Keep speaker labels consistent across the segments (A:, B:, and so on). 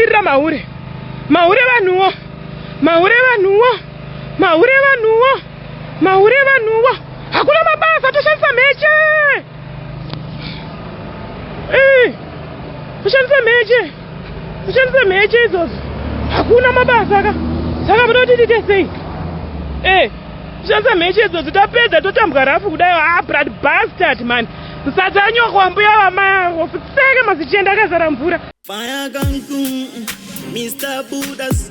A: kumirira mahure mahure vanhuwo mahure vanhuwo mahure vanhuwo mahure vanhuwo hakuna mabasa toshandisa mheche Eh, kushandisa mheche kushandisa mheche idzodzo hakuna mabasa ka saka muda kuti tiite sei eh, kushandisa mheche idzodzo tapedza totambwa rafu kudayo a ah, brad bastard mani msadza anyoko wambuya vamarofu seke mazichenda akazara mvura Fire gang,
B: mm, mm, Mr. Buddha's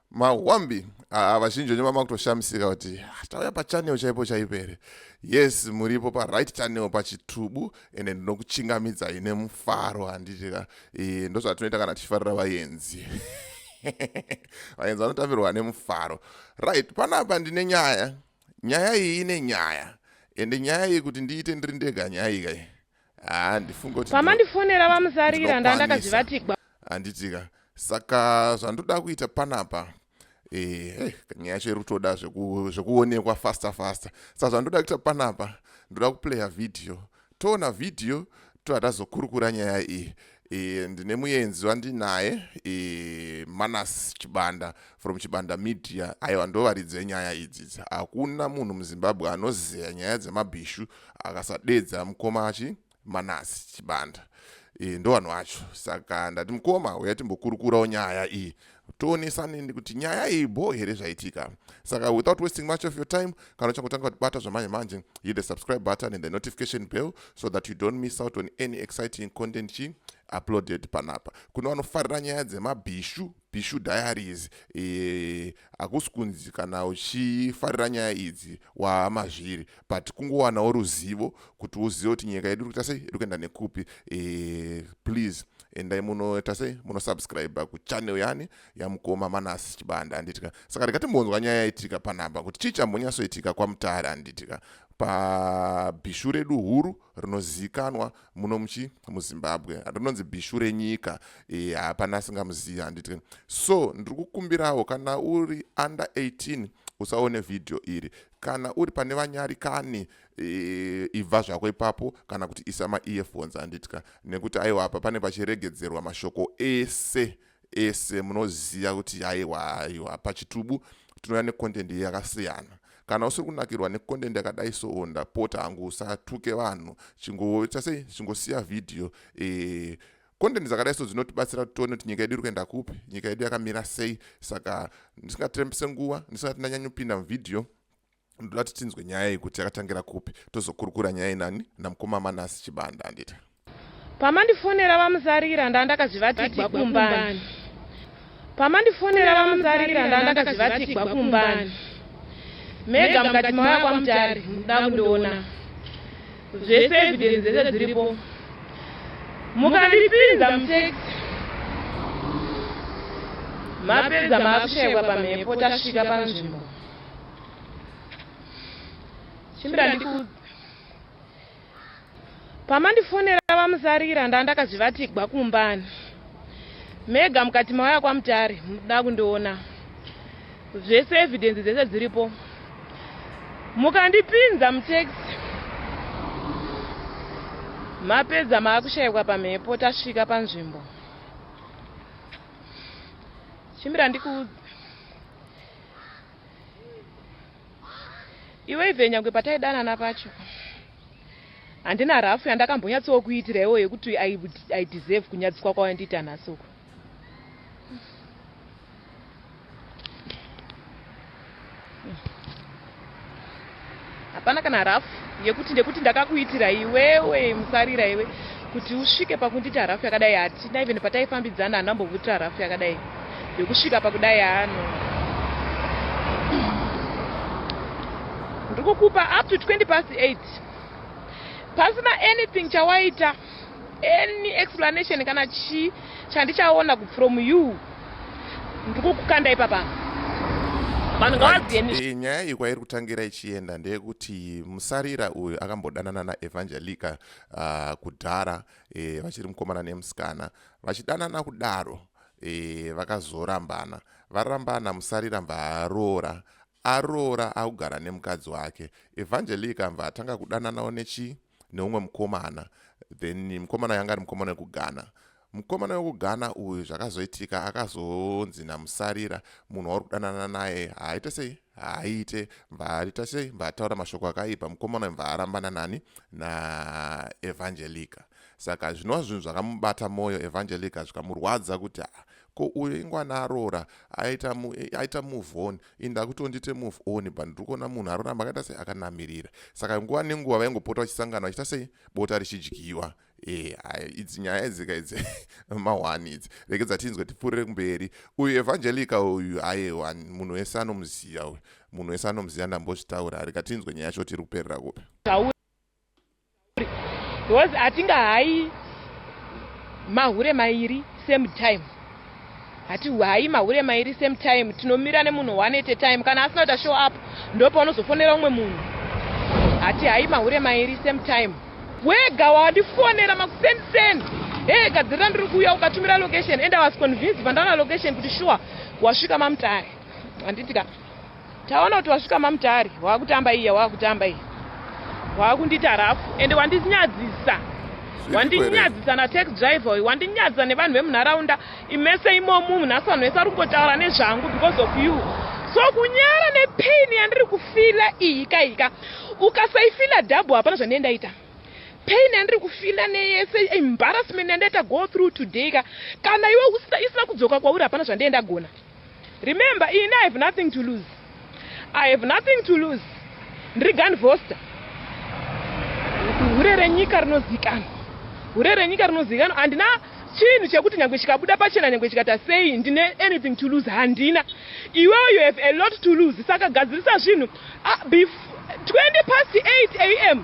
C: mahwambi haa vazhinji venyu vamakutoshamisika kuti ah, tauya pachanel chaipo chaipo here yes muripo paright channel pachitubu ende ndinokuchingamidzai nemufaro handitika e, ndozvatinoita kana tichifarira vayenzi vayenzi vanotambirwa nemufaro right panapa ndine nyaya nyaya iyi ine nyaya ende nyaya iyi kuti ndiite ndiri ndega nyaya iyi kai handifunge kuti pamandifonera vamuzarira
A: ndandakazivatigwa handitika
C: saka zvandoda kuita panapa eh, eh, nyaya yacho iri kutoda zvekuonekwa faster faster saka zvandoda kuita panapa ndoda kuplaya vhidhiyo toona vhidhiyo toda tazokurukura nyaya iyi E, ndine muenzi wandinaye e, manas chibanda from chibanda media aiwa ndovaridzi venyaya idzidzi hakuna munhu muzimbabwe anozeya nyaya dzemabhishu akasadedza mukoma achi manas chibanda e, ndo vanhu vacho saka ndati mukoma uya timbokurukurawo nyaya iyi toonesaneni kuti nyaya iyi bho here zvaitika saka without wasting much of your time kana uchangotanga kutibata zvamanje manje hit the subscribe button and the notification bell so that you don't miss out on any exciting content chi uploaded panapa kune vanofarira nyaya dzemabhishu bhishu diaries eh, hakusi e, kunzi kana uchifarira nyaya idzi wamazviri but kungowanawo ruzivo kuti uzive kuti nyika yedu iri kuita sei iri kuenda nekupi e, please endai munoita sei munosubscribe kuchannel yani yamukoma manasi chibanda anditika saka ndikatimbonzwa nyaya yaitika panhamba kuti chii chambonyatsoitika kwamutare anditika pabhishu redu huru rinozivikanwa muno muchi muzimbabwe rinonzi bhishu renyika eh, hapana e, asingamuzivi handiti so ndiri kukumbirawo kana uri under 18 usaone vhidhiyo iri kana uri pane vanyarikani e, ibva zvako ipapo kana kuti isa maearphones handitya nekuti aiwa apa pane pachiregedzerwa mashoko ese ese munoziva kuti aiwa aiwa pachitubu tinouya necontent yakasiyana kana usiri kunakirwa necontent yakadai soo ndapota hangu usatuke vanhu chingoita sei chingosiya vhidhiyo e, content dzakadai so dzinotibatsira kuti tione kuti nyika yedu iri kuenda kupi nyika yedu yakamira sei saka ndisingatirembese nguva ndisingati ndanyanyopinda muvhidhiyo ndoda kuti tinzwe nyaya iyi kuti yakatangira kupi tozokurukura nyaya inani namukoma manasi chibanda anditi pamandifonera
A: vamuzarira ndandakazvivatigwa kumbani pamandifonera vamuzarira ndandakazvivatigwa kumbani mega mukati mauya kwamutari muda kundiona zvese evidence dzese dziripo mukandipinza mutaxi mapedza maakushaiwa pamhepo tasvika panzvimbo chimbira ndiku pamandifonera vamusarira ndandakazvivatigwa kumbani mega mukati mauya kwamutare muda kundiona zvese evidence dzese dziripo mukandipinza mutaxi mapedza maakushaikwa pamhepo tasvika panzvimbo chimbira ndikuudza iwe ive nyangwe pataidanana pacho handina rafu yandakambonyatsowo kuitira iwo yekuti i deserve kunyadziswa kwawandiita nhasi uku Hapana kana rafu yekuti ndekuti ndakakuitira iwewe musarira iwe kuti usvike pakundiita rafu yakadai hatina even pataifambidzana hana mbovutira rafu yakadai yokusvika pakudai ano ndikukupa up to 20 past 8 pasina anything chawaita Any explanation kana chii chandichaona from you ndikukukanda ipapa vanhu ngavazive
C: nyaya iyi kwairi kutangira ichienda ndeyekuti musarira uyu akambodanana naevangelica uh, kudhara e, vachiri mukomana nemusikana vachidanana kudaro e, vakazorambana varambana musarira mbaaroora aroora akugara nemukadzi wake evangelica mbva atanga kudananawo nechii neumwe mukomana then mukomana yanga ari mukomana wekughana mukomana wekughana uyu zvakazoitika akazonzi namusarira munhu wauri kudanana naye haaite sei haaite mvaarita sei mvaataura mashoko akaipa mukomana uyu mvaarambana nani naevhangelica saka zvinova zvinhu zvakamubata mwoyo evhangelica zvikamurwadza kuti ko uyo ingwana aroora aita aita move on ini ndakutondite move on but ndiri kuona munhu aroramba akaita sei akanamirira saka nguva nenguva vaingopota vachisangana vachiita sei bota richidyiwa e idzi nyaya idzika idzi mahwani idzi rekedza tinzwe tipfuurire kumberi uyu evhangelica uyu ayewa munhu wese anomuziva uyu munhu wese anomuziva ndambozvitaura reka tinzwe nyaya yacho tiri kuperera kupi
A: Because hatinga hayi mahure mairi same time. Hati hayi mahure mairi same time. Tinomira nemunhu one at a time. Kana asina kuita show up ndopa unozofonera umwe munhu. Hati hayi mahure mairi same time. Wega wandifonera makuseni seni. Hey gadzirira ndiri kuuya ukatumira location and I was convinced pandana location kuti sure wasvika mamutare. Handiti ka. Taona kuti wasvika mamutare wakutamba iya wakutamba iya wakundita rafu ende wandinyadzisa wandinyadzisa natax driver uyu wandinyadzisa nevanhu vemunharaunda imese imomu munhu asi vanhu vese ari kungotaura nezvangu because of you so kunyara nepain yandiri kufila iyi kaika ukasaifila double hapana zvandiye ndaita pain yandiri kufila neyese embarrassment yandaita go through today ka kana iwe isina kudzoka kwauri hapana zvandiye ndagona Remember ini I have nothing to lose. I have nothing to lose. Ndiri gun foster. Hure renyika rinozikanwa. Hure renyika rinozikanwa. Handina chinhu chekuti nyange chikabuda pachena nyange chikata sei ndine anything to lose handina. Iwewe you have a lot to lose saka gadzirisa zvinhu. Ah, bef 20 past 8 am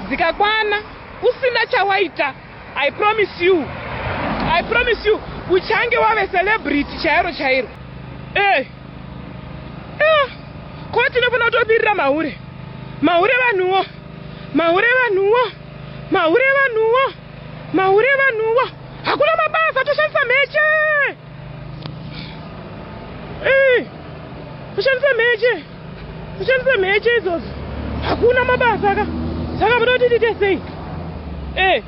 A: dzikakwana usina chawaita i promise you i promise you uchange wave celebrity chairo chairo ey eh. ah, ko tinofanira kutobirira mahure mahure vanhuwo mahure vanhuwo mahure vanhuwo Mahure vanhuwa hakuna mabasa toshandisa mheche. Eh. Toshandisa mheche. Toshandisa mheche idzodzo. Hakuna mabasa ka. Saka munoda kuti tiite sei? Eh.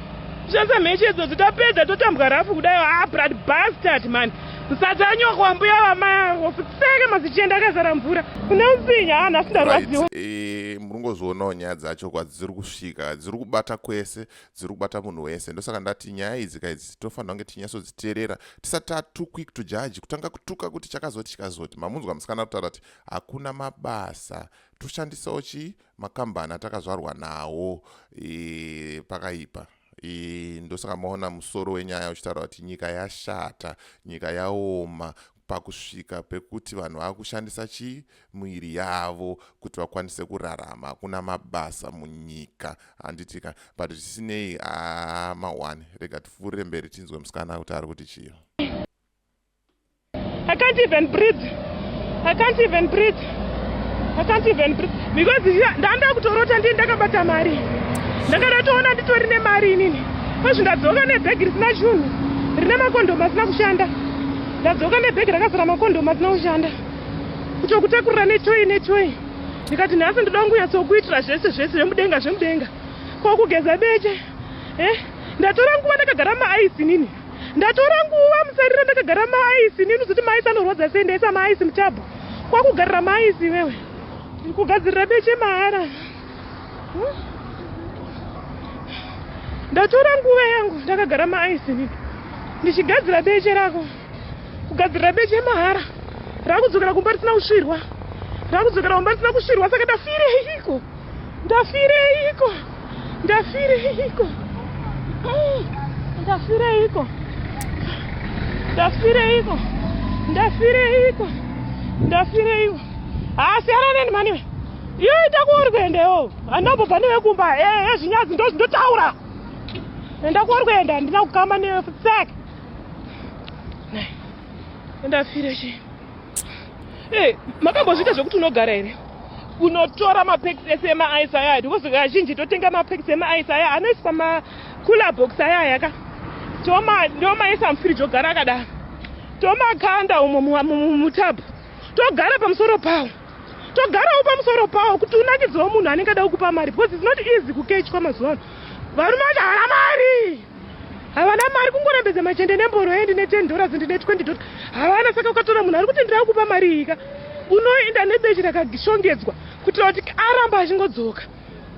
A: Toshandisa mheche idzodzo tapedza totambwa rafu kudai ah blood bastard man. Msadza anyoko wambuya vamaya ofuseke mazichenda akazara mvura. Une usinye ah nhasi ndarwadziwa. Right. Eh, murungozvionawo
C: nyaya dzacho kwadziri kusvika dziri kubata kwese dziri kubata munhu wese ndosaka ndati nyaya idzi ka idzi tinofanira kunge tinyatsodziteerera tisati tatu quick to judge kutanga kutuka kuti chakazoti chikazoti mamunzwa musikana kutaura kuti hakuna mabasa toshandisawo chii makambani atakazvarwa nawo e, pakaipa ndosaka maona musoro wenyaya uchitaura kuti nyika yashata nyika yaoma pakusvika pekuti vanhu vava kushandisa chii miviri yavo kuti vakwanise kurarama hakuna mabasa munyika handiti ka but zvisinei aa mahwani rega tipfuurire mberi tinzwe musikana kuti ari kuti chii i can't
A: even breathe i can't even breathe I can't even breathe because ndanda kutorota ndiye ndakabata mari ndakada toona nditori nemari inini kwezvi ndadzoka nebhegi risina chunhu rine makondhomu asina kushanda ndadzoka nebhegi rakazara makondhomu asina kushanda kutokutakurira netoyi netoyi ndikati nhasi ndoda kungunyatsokuitira zvese zvese zvemudenga zvemudenga ko kugeza beche e eh, ndatora nguva ndakagara maaisi nini Ndatora nguva musarira ndakagara maaisi nini zoti maaisi anorwadza sei ndaisa maaisi mutabhu kwakugarira maaisi iwewe kugadzirira beche mahara hmm? ndatora nguva yangu ndakagara maaisi nini ndichigadzira beche rako kugadzirira beche mahara rakudzokera kumba risina kusvirwa rakudzokera kumba risina kusvirwa saka ndafire iko Ndafireiko? Ndafireiko? Mm, ndafireiko? Ndafireiko? Ndafireiko? Ndafireiko? Ah, siyana neni mani we. Iyo ita kuori kuenda yo. Anobva pane vekumba. Eh, eh, zvinyadzi ndo ndotaura. Enda kuori kuenda ndina kukama ne sack. Ndafireiko? Hey, makambozviita zvekuti unogara here kunotora mapeks ese emaice aya aya because kazhinji totenga mapeks emaice aya anoiswa macooler box aya aya ka ndomaisa mufiriji ogara akadaro tomakanda umo mutabu togara pamusoro pawo togarawo pamusoro pawo kuti unakidziwo munhu anenge ada kukupa mari because its not easy kukechwa mazuva ano varume vacho havana mari havana mari kungorambedza machende nemboro endi ne 10 dollars ndine 20 dollars havana saka ukatora munhu ari kuti ndiri akupa mari iyika unoenda nebechi rakashongedzwa kuitira kuti aramba achingodzoka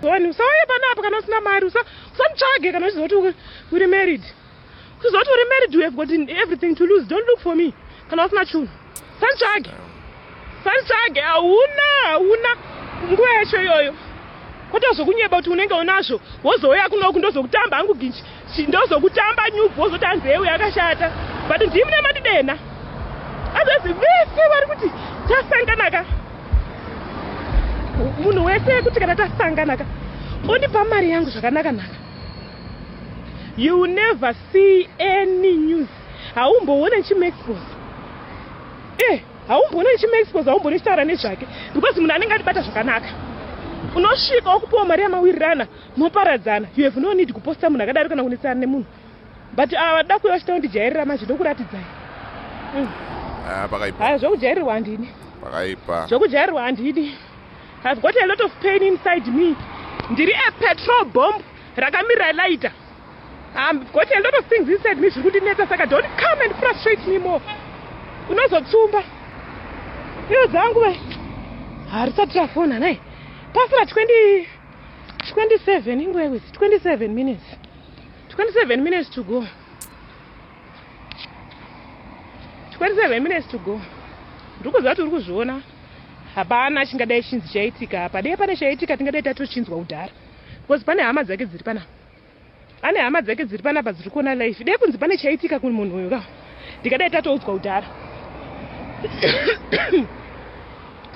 A: one usauye panapa kana usina mari usamutsvage kana uchiziva kuti uri married uchiziva kuti uri married you have got everything to lose don't look for me kana usina chunhu Santsvage. Santsvage hauna hauna nguva yacho iyoyo. Kwata zvokunyeba kuti unenge unazvo wozouya kuno uku ndozokutamba hangu ginji. Ndozokutamba nyubu wozoti hanzi hewe yakashata. But ndii mune matidena. Azvezi vese vari kuti tasangana ka. Munhu wese kuti kana tasangana ka. Ondipa mari yangu zvakanaka naka. You will never see any news. haumboone chimuexpose eh haumboone chimuexpose haumboone chitaura nezvake because munhu anenge atibata zvakanaka unosvika okupiwa mari yamawirirana moparadzana you have no need kuposta munhu akadaro kana kunetsana nemunhu but ava ah, vada kuuya vachita kundijairira manje ndokuratidzai mm. ah, pakaipa aya zvokujairirwa handini pakaipa zvokujairirwa handidi have got a lot of pain inside me ndiri a petrol bomb rakamira laita I've um, got a lot of things inside me zviri kundinetsa saka don't come and frustrate me more unozotsumba iyo dzangu ve harisati rafona nai pasira 20 27 ingwewis 27 minutes 27 minutes to go 27 minutes to go ndiri kuziva kuti uri kuzviona hapana chingadai chinzi chaitika apa dei pane chaitika tingadai tatochinzwa kudhara because pane hama dzake dziri panapa Ane hama dzake dziri panapa dziri kuona live. Dai kunzi pane chaitika kune munhu uyu ka. Ndikadai tatoudzwa kudhara.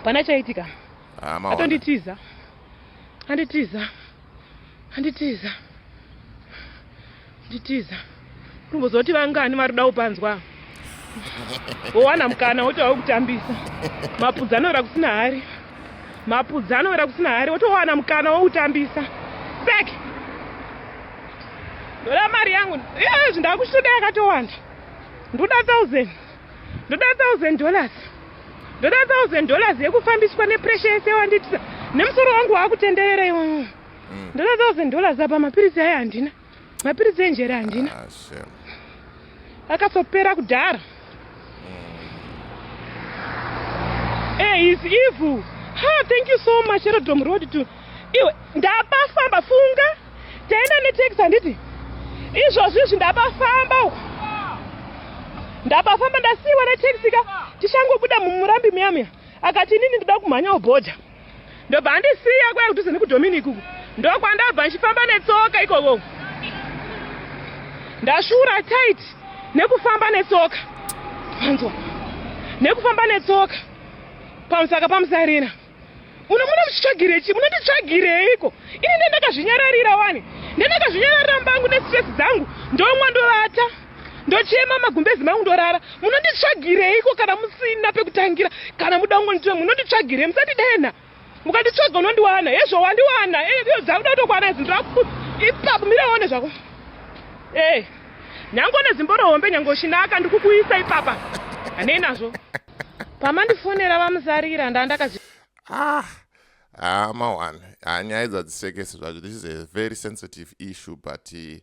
A: Pana chaitika. Ah, maona. Atonditiza. Anditiza. Anditiza. Anditiza. Kumbozoti vangani vari kuda kupanzwa wowana mukana woti wave kutambisa mapudzi anoera kusina hari mapudzi anoera kusina hari wotowana mukana wokutambisa sek ndoda mari yangu izvi ndakuchitoda yakatowanda ndoda thousand ndoda thousand dollars ndoda thousand dollars yekufambiswa nepresha yese wanditisa nemusoro wangu waakutenderera iwo mm. ndoda thousand dollars apa mapiritsi ayo handina mapiritsi enjere handina ah, akatopera kudhara mm. eh, is evil ha thank you so much erodom road to iwe ndapafamba funga taenda netex handiti izvozvi izvi ndapafamba uku ndapafamba ndasiiwa netex ka tichangobuda mumurambi muyamya akati inini ndida kumhanya ubhodha ndobva andisiya kwaive kudhuze nekudominic uku ndokwandabva ndichifamba netsoka ikoko ndashura tight nekufamba netsoka panzwa nekufamba netsoka pamusaka pamusarina muno muno muchitsvagirei chii munonditsvagireiko ini ndendakazvinyararira wani ndendakazvinyararira mbangu nestress dzangu ndomwa ndovata ndochema magumbezi mangu ndorara munonditsvagireiko kana musina pekutangira kana muda kungonditora munonditsvagirei musandidenha mukanditsvaga unondiwana hezvo wandiwana eh, iyo dzakuda kutokwana idzi ndaku ipapo mira one zvako e nyange une zimbo rohombe nyange uchinaka ndikukuisa ipapa hanei nazvo pamandifonera vamusarira ndaa ndakazi ah ah
C: mawani ah, nyaya idzi hadzisekesi zvacho this is a very sensitive issue but uh,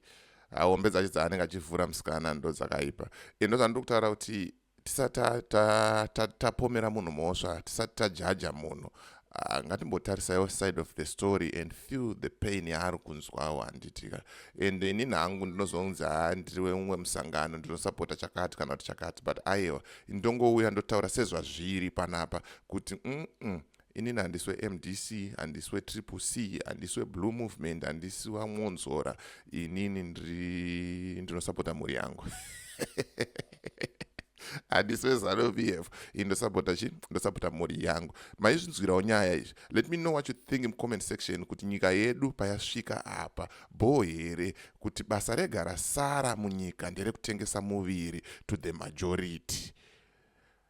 C: hombe dzacho dzaanenge achivhura musikana ndo dzakaipa e ndo zvandiri kutaura kuti tisati tapomera ta, ta, ta munhu mhosva tisati tajaja munhu ah, ngatimbotarisaiwo side of the story and feel the pain yaari kunzwawo handitika and ini nhangu ndinozonzi haa ndiriwe mumwe musangano ndinosapota chakati kana kuti chakati but aiwa ndongouya ndotaura sezvazviri panapa kuti mm -mm, inini handisi wemdc handisi wetriple c handisi weblue movement handisi wamwonzora inini ndinosapota mhuri yangu handisi wezanu p f i ndosapota chi ndosapota mhuri yangu maizvinzwirawo nyaya izvi let me know what you think mucomment section kuti nyika yedu payasvika apa bho here kuti basa rega rasara munyika nderekutengesa muviri to the majority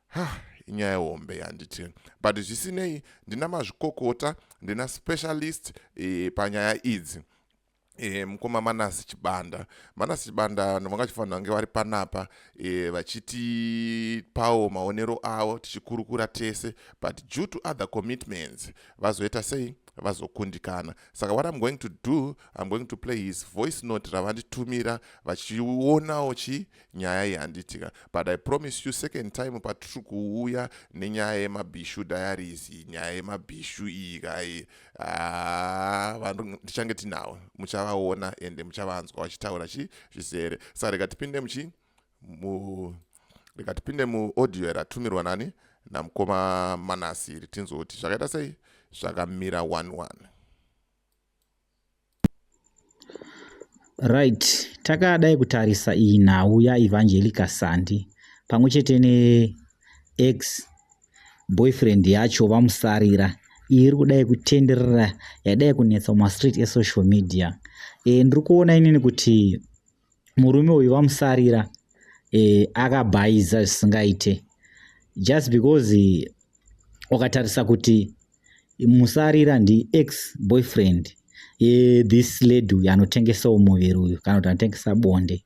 C: Hah, inyaya hombe yanditi but zvisinei ndina mazvikokota ndina specialist e, panyaya idzi E, mukoma manasi chibanda manasi chibanda ndovanga chifanira kunge vari panapa e, eh, vachitipawo maonero avo tichikurukura tese but due to other commitments vazoita sei vazokundikana saka what im going to do im going to play his voice note ravanditumira vachionawo chi nyaya iyi handiti ka but i promise you second time patiri kuuya nenyaya yemabhishu diaries nyaya yemabhishu iyi kai ah, vanhu ndichange tinawo muchavaona ende muchavanzwa vachitaura chi zvizere sa rega tipinde muchi mu rega tipinde muaudio ratumirwa nani namukoma manasi iri tinzoti zvakaita sei zvakamira one one
D: right takadai kutarisa iyi nhau yaevangelica sandi pamwe chete neex boyfriend yacho vamusarira iyi iri kudai kutenderera yadai kunetsa mumastreet esocial media e, ndiri kuona inini kuti murume uyu vamusarira eh, akabhaiza zvisingaite just because eh, ukatarisa kuti musarira ndi ex boyfriend eh, this lady uyu anotengesawo muviri uyu kana kuti anotengesa bonde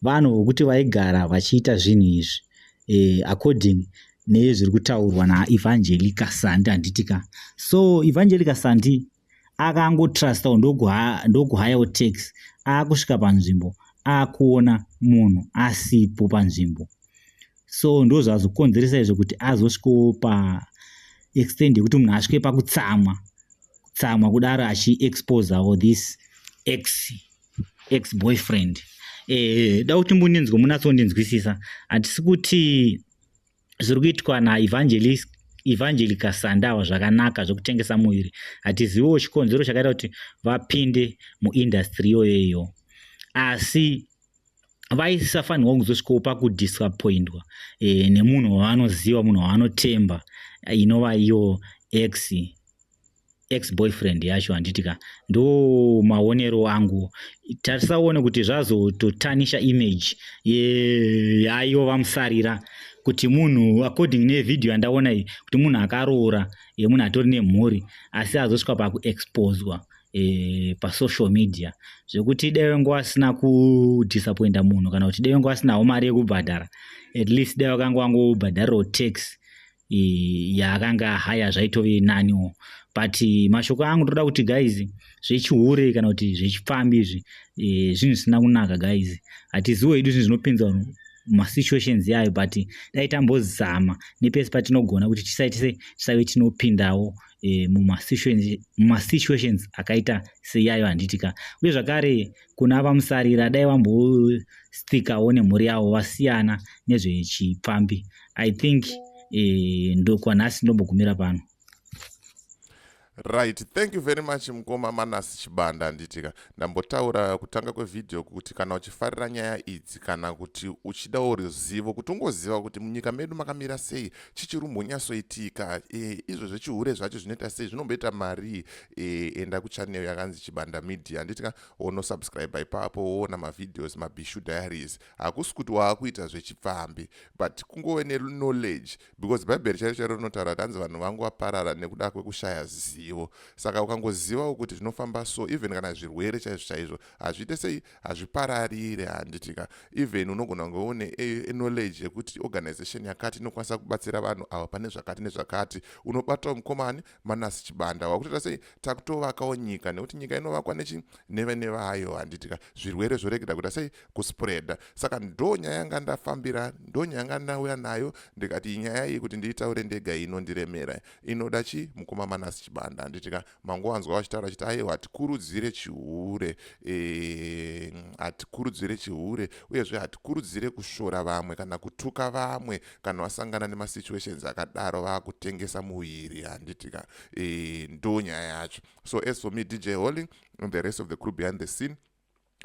D: vanhu vokuti vaigara vachiita zvinhu izvi eh, according nezviri kutaurwa naevangelica sandi handitika so evangelica sandi akangotrustawo ndokuhayawo tax akusvika panzvimbo akuona munhu asipo panzvimbo so ndozvazokonzeresa izvo kuti azosvikawo paextend yekuti munhu asvike pakutsamwa kutsamwa kudaro achiexposawo this x x boyfriend eh, da kuti mbundinzwe munatsondinzwisisa hatisi kuti zviri kuitwa naevangelist evangelica sandawa zvakanaka zvekutengesa muviri hatiziviwo chikonzero chakaita kuti vapinde muindastry yoyeyo asi vaisafanirwa kuzosvikawo pakudisappointwa e, nemunhu wavanoziva munhu wavanotemba inova iyo x ex boyfriend yacho handiti ka ndo maonero angu tarisaone kuti zvazototanisha image yayo vamusarira kuti munhu according nevideo yandaona iyi kuti munhu akaroora e, munhu atori nemhuri asi azosvika pakuexposwa e, eh, pasocial media zvekuti deve ngo asina kudisappointa munhu kana kuti deve ngo asinawo mari yekubhadhara at least deve vakanga vangobhadharirawo tax yaakanga ahaya zvaitove naniwo but mashoko angu ndoda kuti guys zvechihure kana kuti zvechipfambi izvi e, zvinhu zvisina kunaka guys hatiziwo hedu zvinhu zvinopinza vanhu masituations yayo but dai tambozama nepese patinogona kuti tisaitise tisave tinopindawo e, mumasituations akaita seyayo handiti ka uye zvakare kuna vamusarira dai vambosthikawo nemhuri yavo vasiyana nezvechipfambi i think eh, ndokwanhasi ndombogumira pano
C: right thank you very much mukoma manasi chibanda handitika ndambotaura kutanga kwevhidhiyo kuti kana uchifarira nyaya idzi kana kuti uchidawo ruzivo kuti ungoziva kuti munyika medu makamira sei chichirumbonyasoitika e, eh, izvo zvechihure zvacho zvinoita sei zvinomboita marii e, eh, enda kuchanel yakanzi chibanda media handitika wonosubscribe ipapo woona mavhidhios mabishu diaries hakusi kuti waakuita zvechipfambi but kungove neknowledge because bhaibheri chairo chairo rinotaura kuti hanzi vanhu vangu vaparara nekuda kwekushaya zivo saka ukangozivawo kuti zvinofamba so even kana zvirwere chaizvo chaizvo hazviite sei hazvipararire handitika even unogona kunge une knowledge yekuti organization yakati inokwanisa kubatsira vanhu ava pane zvakati nezvakati unobatawo mukomani Manasi Chibanda wakutoita sei takutovakawo nyika nekuti nyika inovakwa nechi neve neve hayo handitika zvirwere zvoregera kuita sei kuspreada saka ndo nyaya yanga ndafambira ndo nyaya yanga ndauya nayo ndikati inyaya iyi kuti ndiitaure ndega inondiremera inoda chi mukoma Manasi Chibanda handitika mangowanzwa vachitaura chiti ayewa hatikurudzire chihure eh, hatikurudzire chihure uyezve hatikurudzire kushora vamwe kana kutuka vamwe kana wasangana nemasituations akadaro vakutengesa muviri handiti ka e, ndo nyaya yacho so as for me dj holy and the rest of the crew behind the scene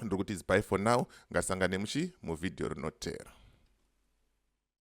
C: ndiri kuti is by for now ngasangane muchi muvhidhiyo rinotera